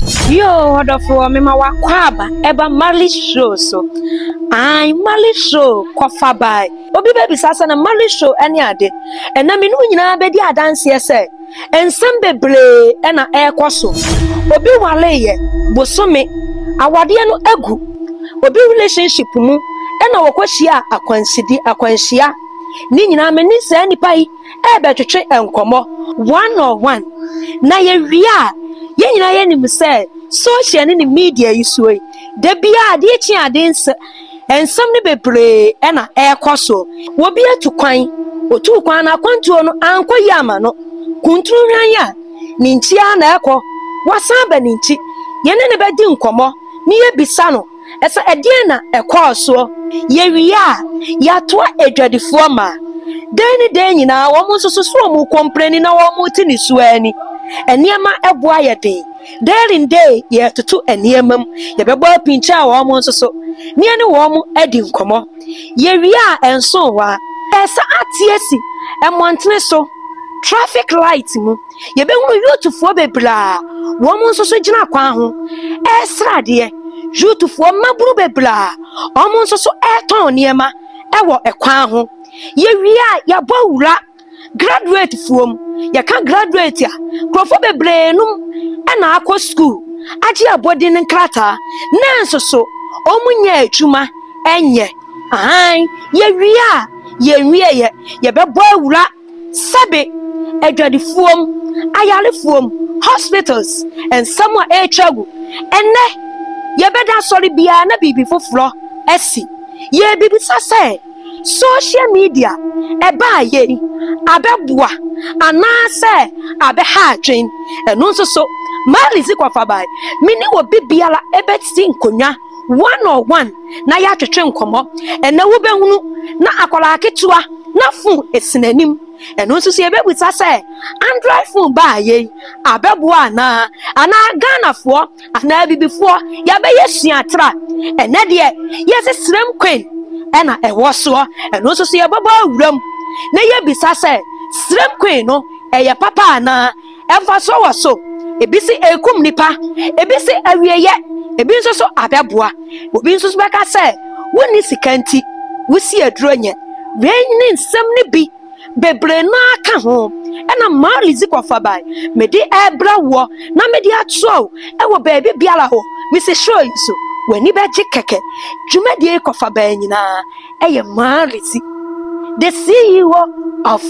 Yoo ɔdɔfoɔ mema w'akwaaba ɛba marley show so ae marley show kɔfa bae obi bɛbisa sɛ na marley show ɛne ade ɛna me ne wo nyinaa bɛdi adanseɛ sɛ nsɛm bebree ɛna ɛrekɔ so obi wareeɛ bosome awadeɛ no agu obi relationship mu ɛna wɔkɔhyia akwanside akwanhyia ne nyinaa me ne saa nipa yi rebɛtwetwe nkɔmmɔ one on one, na yɛwie a, yɛn nyinaa yɛnim sɛ social ne ne media yi soɔ yi, da biara adeɛ kye adeɛ nsɛ, nsɛm no bebree na ɛrekɔ so. Obi atu kwan, ɔtuu kwan no akwantuo no ankɔ yie ama no, kuntunu hwan yi a, ne nkyi ara na ɛrekɔ, wasan aba ne nkyi, yɛne no bɛdi nkɔmmɔ na yɛabisa no, Ɛsɛ ɛdeɛn na ɛkɔɔ soɔ? Yɛwie a, yɛatoa adwadifoɔ ma. Dɛn ne dɛn nyinaa, wɔn nso so so wɔn kɔmprɛni na wɔrete ne su ara ni. Nneɛma bo ayɛ den. Day in day yɛretoto nneɛma mu. Yɛbɛbɔ apinkyɛ a wɔn nso so, na yɛne wɔn adi nkɔmmɔ. Yɛwie a, ɛnsoo hɔ ara. Ɛsɛ ateɛ si mmɔntene so, traffic light mu. yɛbɛhunu yutufoɔ bebree a wɔn nso so gyina kwan ho ɛresra adeɛ yutufoɔ mmabunu bebree a wɔn nso so ɛretɔn nneɛma ɛwɔ ɛkwan ho yɛwie a yɛabɔ wura graduate foɔ mu yɛka graduate a nkurɔfoɔ bebree nom ɛna akɔ sukuu agye abɔdin nkrataa nanso so wɔn nyɛ adwuma ɛnyɛ ahan yɛwie a yɛnwieɛ yɛbɛbɔ awura sɛbe, adwadifoɔm, ayarefoɔm, hospitals, nsɛm a ɛretwa gu. Ɛnnɛ, yɛbɛda asɔre biara na biribi foforɔ asi. Yɛrebisa sɛ, social media ɛbaa yei abɛboa anaasɛ abɛha adwene? Ɛno nso so, Mali Zikwafabai, me ne obi biara bɛsi nkonnwa. one on one na yɛatwetwe nkɔmmɔ. Ɛnnɛ wobɛhunu na akwadaa ketewa na fon si n'anim. Ɛno nso sɛ yɛbɛbisa sɛ Android fon baa yei abɛboa anaa? Anaa Ghanafoɔ anaa Abibifoɔ yɛabɛyɛ suatra. Ɛnnɛ deɛ yɛse serem kwen ɛna ɛwɔ soɔ. Ɛno nso sɛ yɛbɛbɔ awuram na yɛbisa sɛ serem kwen no ɛyɛ papa anaa? mfasoɔ wɔ so. Ebi se ɛkum nipa, ebi se awieyɛ, ebi nso so abɛboa. Obi nso so bɛka sɛ wonni sika nti wosi aduro nyɛ. Wei ne nsɛm no bi bebree no ara ka ho. Ɛna Marley Zikwa Fabai mede ɛrebrɛ woɔ na mede atoa wo ɛwɔ baabi biara hɔ. Mese show yi so w'ani bɛgye kɛkɛ. Dwumadie yi kɔ Fabai nyinaa. yɛ Marise, the CEO of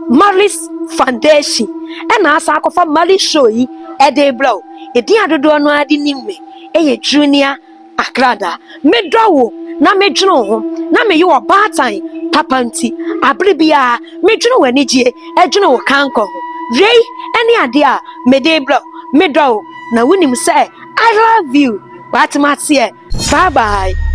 Marise Foundation, ɛna asa akɔfa Marise show yi ɛde brɛ wo. Edin a dodoɔ no ara de nim me yɛ Junior Akrada. Medɔ wo na medwene wo ho na meyɛ wɔ baatan papa nti. Abere biara medwene wo anigyeɛ, ɛdwene wo kankɔ ho. Wei ɛne adeɛ a mede brɛ wo. Medɔ wo na wonim sɛ I love you but maseɛ bye bye.